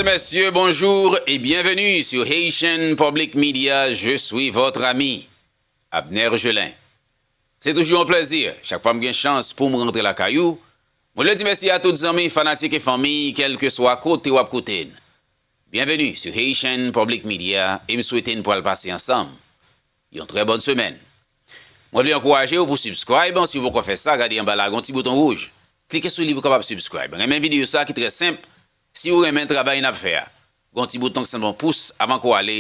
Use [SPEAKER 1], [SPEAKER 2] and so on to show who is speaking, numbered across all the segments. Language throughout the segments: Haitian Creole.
[SPEAKER 1] et messieurs, bonjour et bienvenue sur Haitian Public Media, je suis votre ami Abner Gelin. Se toujou yon plezi, chak fwa m gen chans pou m rantre lakay ou, mwen vle di mèsi a tout zanmi, fanatik e fanmi, kelke swa kote w ap koute n. Byenveni sou Haitian Public Media e m swete n pral pase ansanm yon trè bòn semèn. Mwen vle ankouraje w pou subscribe, si w poko fè sa, gade anba la gon ti bouton wouj, klike sou li pou w kapab subscribe. Renmen videyo sa ki trè senp, Si ou renmen travay n ap fè a, gen yon ti bouton k sanble yon pous avan ke w ale,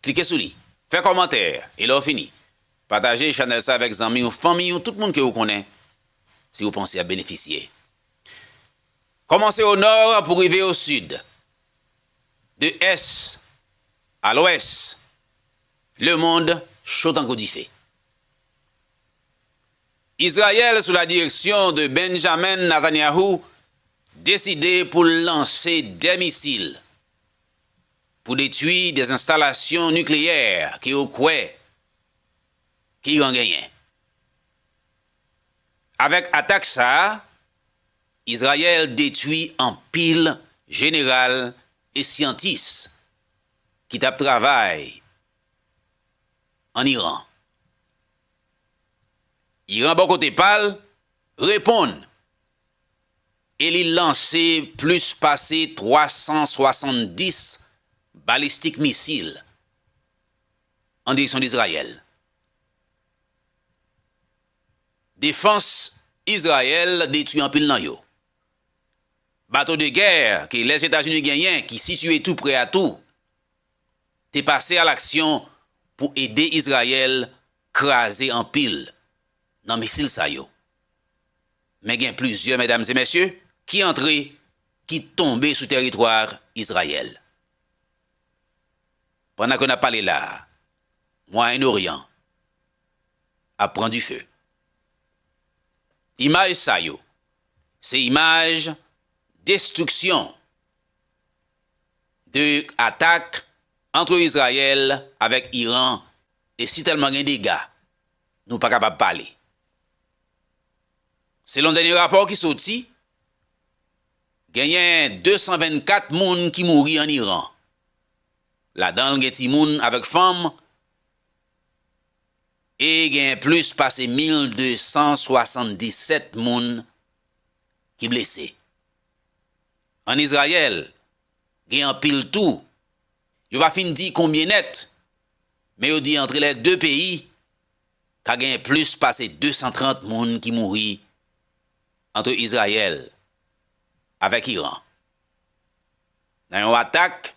[SPEAKER 1] klike sou li. Fè kòmantè, e lè w fini, pataje chanèl sa avèk zanmi ou, fanmi ou, tout moun ke ou konnen, si ou panse y ap benefisye. Kòmanse o nò pou rive o sid, de ès a lwès, lemond cho tankou dife. Izrayèl sou la direksyon de Benjamin Nathanyahou deside pou l lanse 2 misil pou detwi 2 enstalasyon nikleyè ke yo kwè Iran genyen. Avèk atak sa a, Izrayèl detwi anpil jeneral e syantis ki t ap travay an Iran. Iran bò kote pa l, reponn e li lanse plis pase 370 balistik misil an direksyon Dizrayèl. Defans Izrayèl detwi anpil nan yo. Bato de gè ke Lèzetazini genyen ki sitiye tou prè a tou, te pase alaksyon pou ede Izrayèl kraze anpil nan misil sa yo. Men gen plizyè medam e mesye ki antre ki tonbe sou teritwa Izrayèl. Pandan ke nap pale la a, Mwayen Oryan ap pran dife. Imaj sa yo se imaj destriksyon de atak antre Izrayèl avèk Iran e si tèlman gen dega nou pa kapab pale. Selon dènye rapò ki soti, genyen 224 moun ki mouri an Iran, ladan l gen timoun avèk fanm e genyen plis pase 1,277 moun ki blese. ann Izrayèl gen anpil tou, yo pa fin di konbyen nèt, men yo di antre lè de peyi ka gen plis pase 230 moun ki mouri antre Izrayèl avèk Iran nan yon atak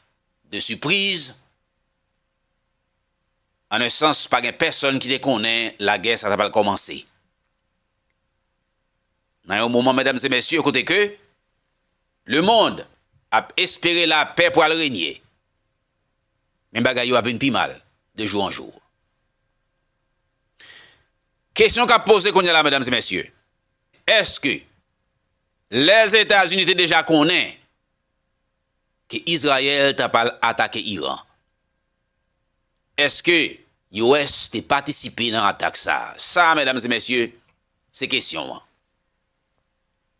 [SPEAKER 1] de sipriz, ann sans pa gen pèsonn ki te konnen lagè sa ta pral kòmanse. Nan yon moman medam e mesye kote ke le mond ap espere la pè pwal renye men bagay yo ap vin pi mal de jou an jou. Kesyon kap poze kounye la medam e mesye eske lè Etazini te deja konnen ke Izrayèl ta pal atake Iran eske US te patisipe nan atak sa? Sa medam e mesye Se kesyon an.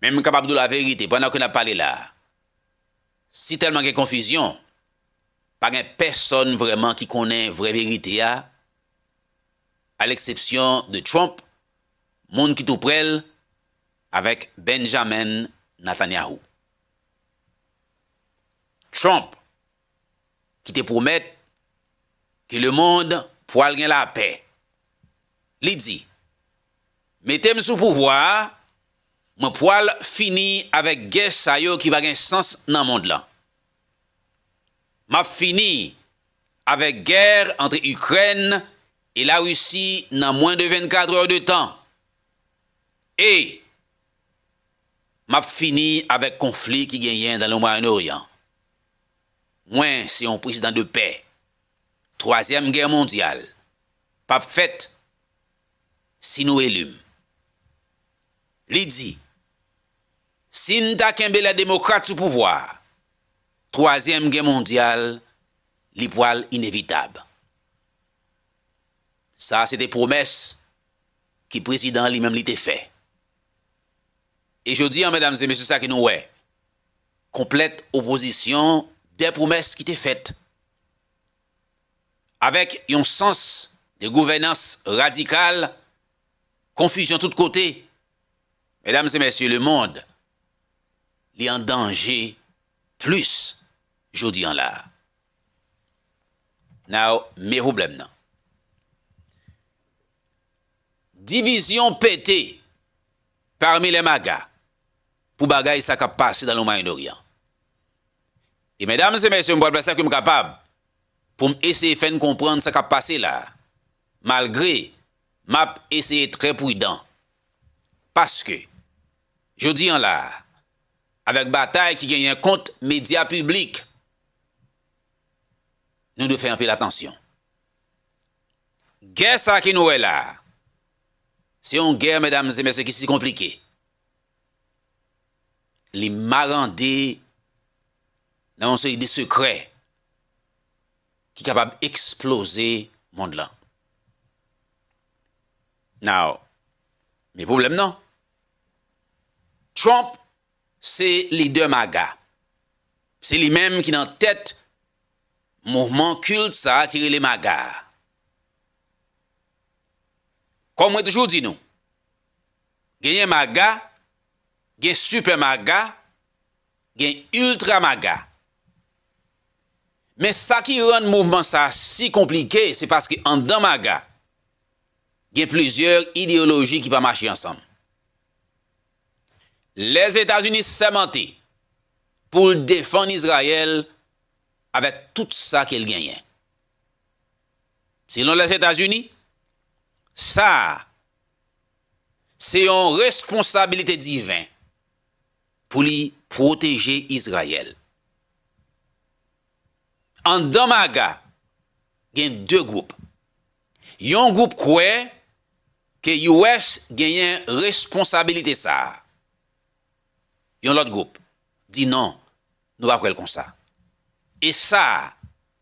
[SPEAKER 1] Men m kapab di w laverite, pandan ke n ap pale la a, si tèlman gen konfizyon, pa gen pèsòn vrèman ki konnen vrè verite a, aleksepsyon de Trump, moun ki tou prè l, avèk Benjamin Netanyahu. Trump ki te pwomèt ke lemond pwal gen lapè. Li di, Mete m sou pouvwa a, mwen pwal fini avèk gè sa yo ki pa gen sans nan mond lan. M ap fini avèk gè antre Ikrèn e Larisi nan mwen de 24 è de tan e m ap fini avèk konfli ki genyen nan le Mwayen Oryan. Mwen se yon prezidan de pè. Twazyèm gè mondyal p ap fèt si nou eli m. Li di, Si n ta kenbe lè demokrat sou pouvwa a, twazyèm gè mondyal li pwal inevitab. Sa se te pwomès ki prezidan li menm li te fè. E jodi an medam e mesye sa ki nou wè. konplèt opozisyon dè pwomès ki te fèt. Avèk yon sans de gouvènans radikal, konfizyon tout kote, medam e mèsye lemond li an danje plis jodi an la. Now me pwoblèm nan. Divizyon pete parmi les MAGA pou bagay sa kap pase nan le Moyen Orient. E mesdames et messieurs m pral fè sa kem kapab poum eseye fèn konprann sa kap pase la malgre map eseye trè prudan paske jodi an la avèk batay ki genyen kont media piblik nou dwe fè anpil atansyon. Gè sa ke nou wè la a, se yon gè, medam e mesye, ki si konplike. Li marande nan yon seri de sekrè ki kapab eksploze mond lan. Now, men pwoblèm nan, Trump se lidè MAGA. Se li menm ki nan tèt mouvman kilt sa ki rele MAGA a. Kòm mwen toujou di nou, genyen MAGA, gen Sipè MAGA, gen Iltra MAGA. Men sa ki rann mouvman sa si konplike se paske anndan MAGA, gen plizyè ideyoloji ki pa mache ansanm. Lèzetazini sèmante pou l defann Izrayèl avèk tout sa ke l genyen. Selon Lèzetazini, sa a se yon responsabilite diven pou li pwoteje Izrayèl. Anndan MAGA, gen 2 gwoup. Yon gwoup kwè ke US genyen responsabilite sa a. Yon lòt gwoup di non, nou pa kwè l konsa. E sa a,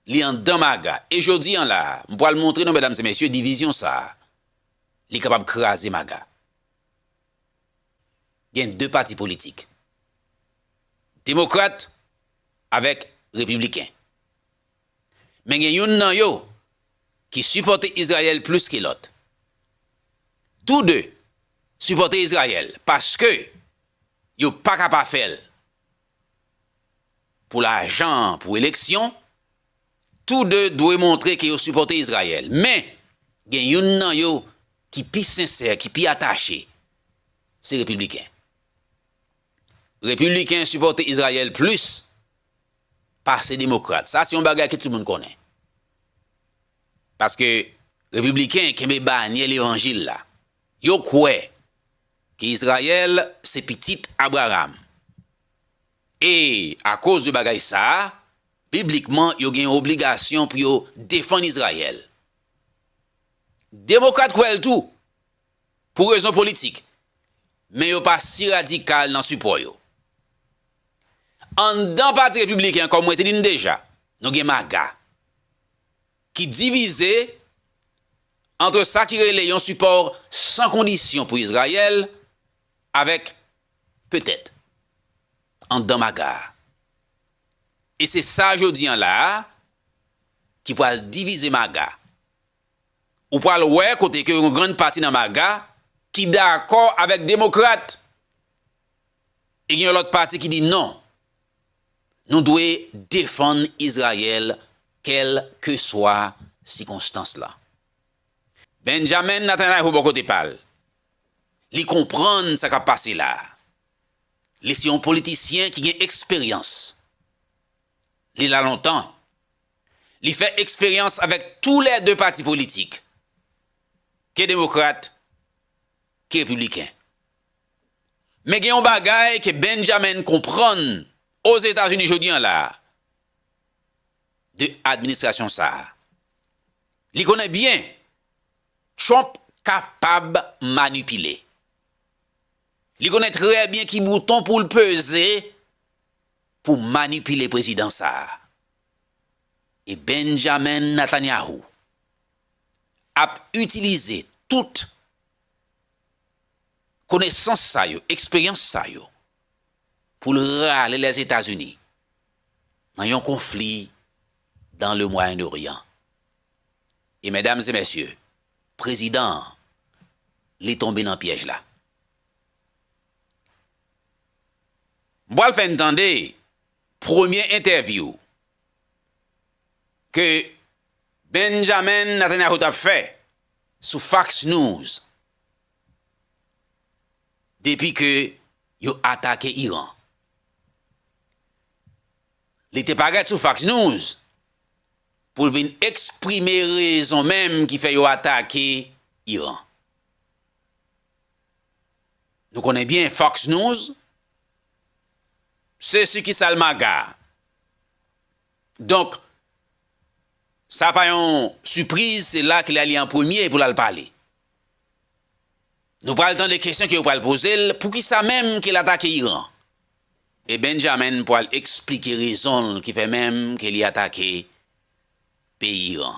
[SPEAKER 1] li andan maga. E jodi an la a, m pral montre nou medam e mesye divizyon sa a, li kapab kraze maga. Gen 2 pati politik. Demokrat avèk Repibliken. Men gen youn nan yo ki sipòte Izrayèl plis ke lòt. Tou de sipòte Izrayèl paske yo pa ka pa fè l pou lajan an, pou eleksyon, tou de dwe montre ke yo sipòte Izrayèl. Men, gen youn nan yo ki pi sensè, ki pi atache, se Repibliken. Repibliken sipòte Izrayèl plis pase Demokrat. Sa se yon bagay ke tout moun konnen. Paske Repibliken kenbe banyè levanjil la. Yo kwè ke Izrayèl se pitit Abraram. E akoz de bagay sa, biblikman yo gen yon obligasyon pou yo defann Izrayèl. Demokrat kwè l tou, pou rezon politik, men yo pa si radikal nan sipò yo. Anndan Pati Repibliken an, kòm mwen te di n deja, nou gen MAGA, ki divize antre sa ki rele yon sipò san kondisyon pou Izrayèl avèk petèt anndan MAGA a. E se sa jodi an la a ki pral divize MAGA. Ou pral wè kote ke yon grann pati nan MAGA ki dakò avèk demokrat. E gen yon lòt pati ki di non. Nou dwe defann Izrayèl kèlkeswa sikonstans la. Benjamin Natanayhou bò kote pa l, li konprann sa k ap pase la a. Li se yon politisyen ki gen eksperyans. Li la lontan. Li fè eksperyans avèk tou lè 2 pati politik, ke Demokrat, ke Repibliken. Men gen yon bagay ke Benjamin konprann Ozetazini jodi an la a, de administrasyon sa a. Li konnen byen Trump kapab manipile. Li konnen trè byen ki bouton pou l peze pou manipile prezidan sa a. e Benjamin Netanyahu ap itilize tout konesans sa yo, eksperyans sa yo pou l rale Lèzetazini nan yon konfli dan le Mwayen Oryan. E medam e mesye, prezidan an li tonbe nan pyèj la. M pral fè n tande Premye entèvyou ke Benjamin Netanyahu t ap fè sou Fox News depi ke yo atake Iran. Li te parèt sou Fox News pou l vin eksprime rezon menm ki fè yo atake Iran. Nou konnen byen Fox News Se sukisal maga. Donk, sa pa yon sipriz, se la ke li ale an premye pou l al pale. Nou pral tande kesyon ke yo pral poze l, poukisa menm ke l atake Iran? E Benjamin pral eksplike rezon l ki fè menm ke li atake peyi Iran.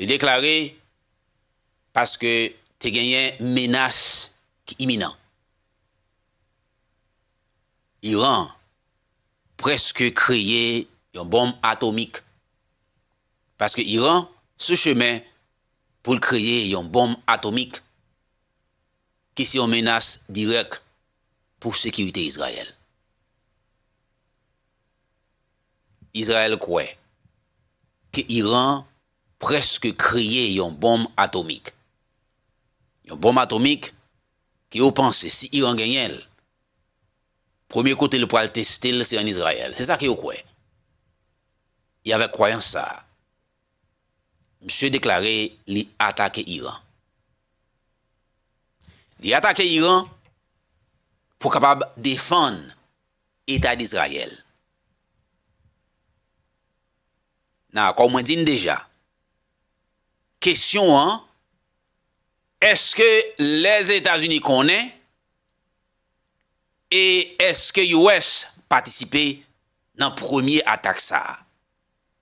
[SPEAKER 1] Li deklare, Paske te genyen menas ki iminan. Iran prèske kreye yon bonm atomik. Paske Iran sou chemen pou l kreye yon bonm atomik ki se yon menas dirèk pou sekirite Izrayèl. Izrayèl kwè ke Iran prèske kreye yon bonm atomik. Yon bonm atomik ke yo panse si Iran genyen l, premye kote l pral teste l se an Izrayèl. Se sa ke yo kwè. E avèk kwayans sa a, misye deklare li atake Iran. Li atake Iran pou kapab defann Eta Dizrayèl. Nan akò mwen di n deja, kesyon an, èske Lèzetazini konnen e èske US patisipe nan premye atak sa a?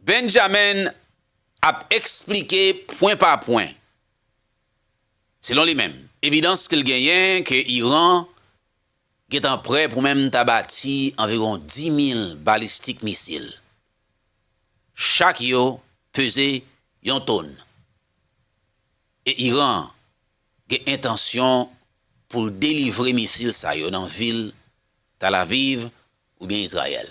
[SPEAKER 1] Benjamin ap eksplike pwen pa pwen, selon li menm, evidans ke l genyen ke Iran gentan prè pou menm ta bati anviwon 10,000 balistik misil, chak yo peze yon tonn, e Iran gen entansyon pou l delivre misil sa yo nan vil Tel Aviv oubyen Izrayèl.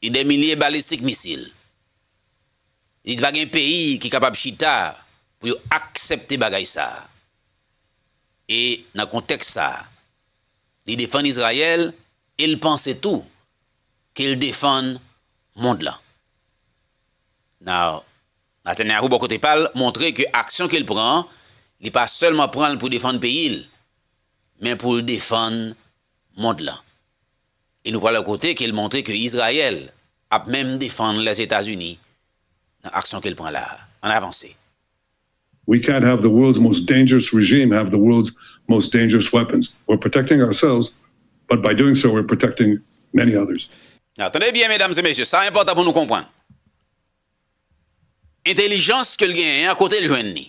[SPEAKER 1] Gen dè milye balistik misil. Li di pa gen peyi ki kapab chita pou yo aksepte bagay sa a. E nan kontèks sa a, li defann Izrayèl e l panse tou ke l defann mond lan. Now, Netanyahu bò kote pa l montre ke aksyon ke l pran an, li pa sèlman pran l pou defann peyi l, men pou l defann mond lan. E nou pral wè kote ke l montre ke Izrayèl ap menm defann Lèzetazini nan aksyon ke l pran la a. Ann avanse. We
[SPEAKER 2] can't have the world's most dangerous regime have the world's most dangerous weapons. We're protecting ourselves, but by doing so we're protecting many others. Nan, tande byen medam
[SPEAKER 1] e mesye, sa enpòtan pou nou konprann. Entelijans ke l genyen an, kote l jwenn li?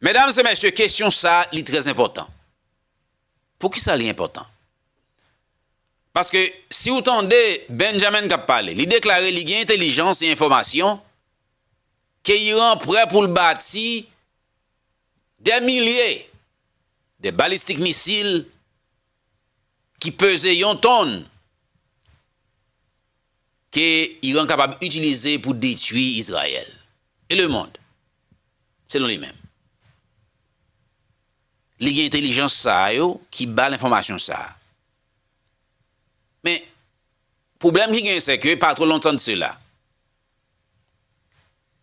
[SPEAKER 3] Medam e
[SPEAKER 1] mesye kesyon sa li trè enpòtan. Poukisa li enpòtan? Paske si ou tande Benjamin kap pale, li deklare li gen entelijans e enfòmasyon ke Iran prè pou l bati dè milye de balistik misil ki peze yon tonn ke Iran kapab itilize pou detui Izrayèl e lemond. Selon li menm, li gen entelijans sa a yo ki ba l enfòmasyon sa a. Men, pwoblèm ki genyen sè ke pa two lontan de sela,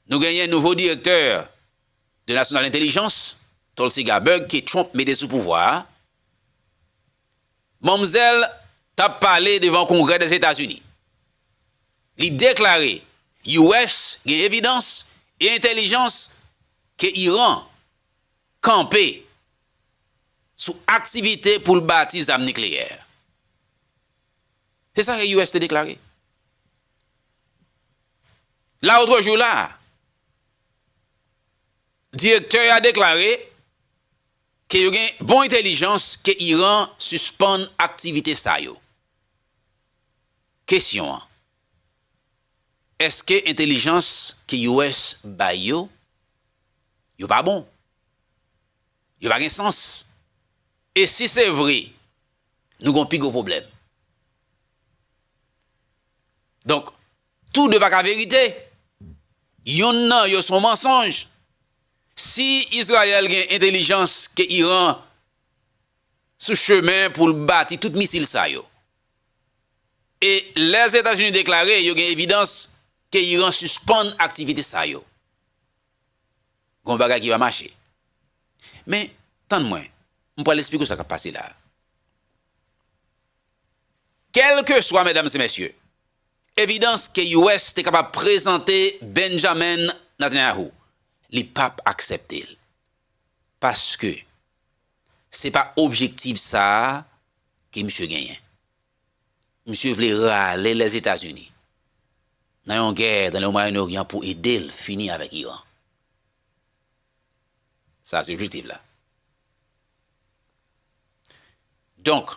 [SPEAKER 1] nou genyen nouvo direktè de nasyonal entelijans, Tulsi Gabbard, ke Trump mete sou pouvwa a, Manmzèl t ap pale devan Kongrè Dèzetazini. Li deklare US gen evidans e entèlijans ke Iran kanpe sou aktivite pou l bati zam nikleyè. Se sa ke US te deklare laotrejou la a. Direktè a deklare. ke yo gen bon entelijans ke Iran sispann aktivite sa yo. Kesyon an, Eske entelijans ke US bay yo, yo pa bon? Yo pa gen sans? E si se vre, nou gon pi gwo pwoblèm. Donk, tou de pa ka verite. Yonn nan yo son mansonj. Si Izrayèl gen entelijans ke Iran sou chemen pou l bati tout misil sa yo, e Lèzetazini deklare yo gen evidans ke Iran sispann aktivite sa yo, gon bagay ki pa mache. Men, tann mwen, m pral esplike w sa k ap pase la a. Kèlkeswa, medam e mesye, evidans ke US te kapab prezante Benjamin Netanyahu, li pap aksepte l. Paske se pa objektiv sa a ke misye genyen. Misye vle rale Lèzetazini nan yon gè nan le Mwayen Oryan pou ede l fini avèk Iran. Sa se objektiv la. Donk,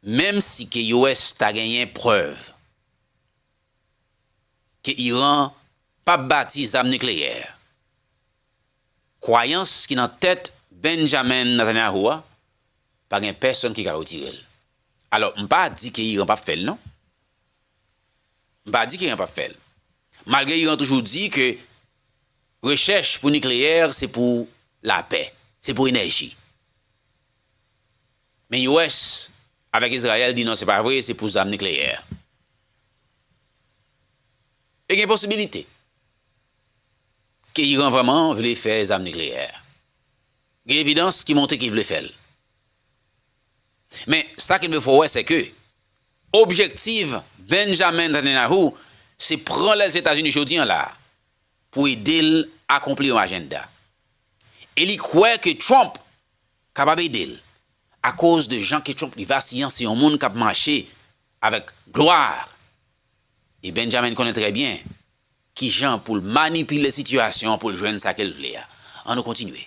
[SPEAKER 1] menm si ke US ta genyen prèv ke Iran pap bati zam nikleyè, kwayans ki nan tèt Benjamin Netanyahu a pa gen pèsonn ki ka retire l. Alò, m pa di ke Iran pap fè l non. M pa di ke Iran pap fè l. Malgre Iran toujou di ke. Rechèch pou nikleyè se pou lapè, se pou enèji. Men US avèk Izrayèl di non se pa vre, se pou zam nikleyè. E gen posibilite ke Iran vrèman vle fè zam nikleyè. Gen evidans ki montre ke l vle fè l. Men, sa ki dwe fè w wè sèke objektif Benjamin Netanyahu se pran Lèzetazini jodi an la a pou ede l akonpli yon ajenda. E li kwè ke Trump kapab ede l akoz de jan ke Trump li vasiyan, se yon moun k ap mache avèk glwa e Benjamin konnen trè byen kijan pou l manipile sitiyasyon an pou l jwenn sa ke l vle a. An nou kontinye.